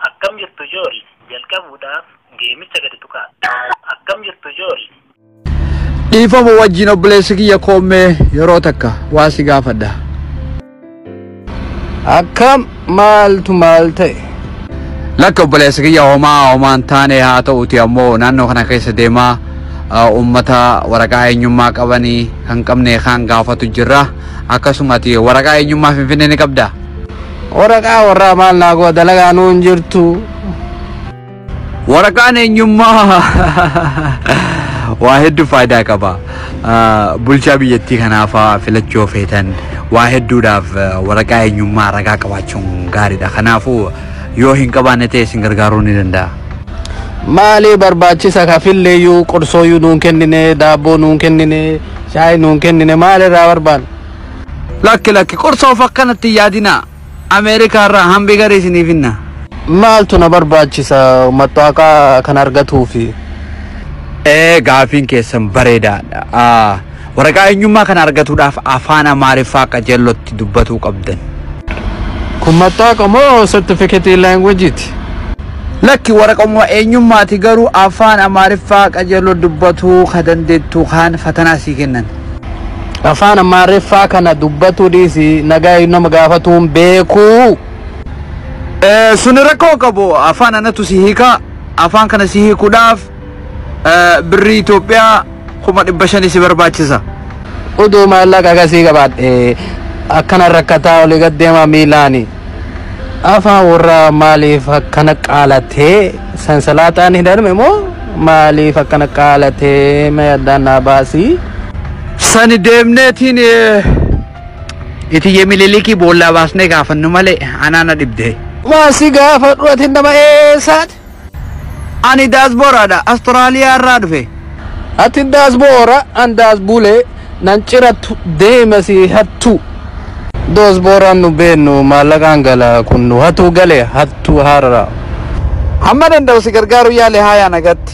Akkam jirtu Jool? Jalqabuudhaaf geemicha gadi tuqaa. Akkam jirtu Jool? Dhiifama wajjin obboleessi kiyya koommee yeroo takka waa si gaafadha. Akkam maaltu maal ta'e? Lakka obboleessa kiyya homaa homaan taane haa ta'uti ammoo naannoo kana keessa deemaa uummata waraqaa eenyummaa qabanii kan qabne kaan gaafatu jirra. Akkasuma ati waraqaa eenyummaa Finfinnee ni qabdaa? Waraqaa warraa maal naa godha dalagaa nuun jirtu. Waraqaan eenyummaa waa hedduu faayidaa qaba. Ah, Bulchaa biyyattii kanaafaa filachuu feetan waa hedduudhaaf ah, waraqaa eenyummaa ragaa qabaachuun gaariidha. Kanaafuu yoo hin qabaanne ta'e isin gargaaruu ni danda'a. Maalee barbaachisa kafilleeyyuu qorsooyyuu nuun kennine daabboo nuun kennine shaayii nuun kennine maalirraa barbaanna? Lakki lakki qorsoof akkanatti hin yaadinaa. America irraa hambi gari isinii finna. Maaltu na barbaachisa mattaaqa kan argatuufi? Ee gaafiin keessan bareedaadha. A. Waraqaa eenyummaa kana argatuudhaaf afaan Amaariffaa qajeellotti dubbatuu qabdan. Kun mattaaqa moo sertifiketii laanguwejiiti? Lakki waraqauma eenyummaati garuu afaan Amaariffaa qajeelloo dubbatuu ka dandeettu kaan fatanaa sii kennan. Afaan Amaariffaa kana dubbatuu dhiisi nagaayuu nama gaafatuun beekuu. Eh, suni rakkoo hin qabu afaan anatu si hiika afaan kana si hiikuudhaaf eh, birrii Itoophiyaa kuma dhibba shanii si barbaachisa Uduu maallaqa akkasii qabaadhe akkana rakkataa olii gad deemaa miilaani. Afaa warraa maaliif akkana qaalatee sansalaaxaan hidhanme moo maaliif akkana qaalatee mee addaan naa baasii. Sani deemneetiin eh, itiyye mililikii boollaa baasnee gaafannu malee anaana dhibdee. Maasi gaafadhu ati nama eessaati? Ani daasbooraadha. Astoraliyaa irraa dhufe. Ati daasboora an daasbulee nan cirattu deema si hattuu. Doosbooraan nu beennu maallaqaan gala kun nu hatuu gale hattuu haarara. Hamma danda'u si gargaaruu yaale haayaa nagatti.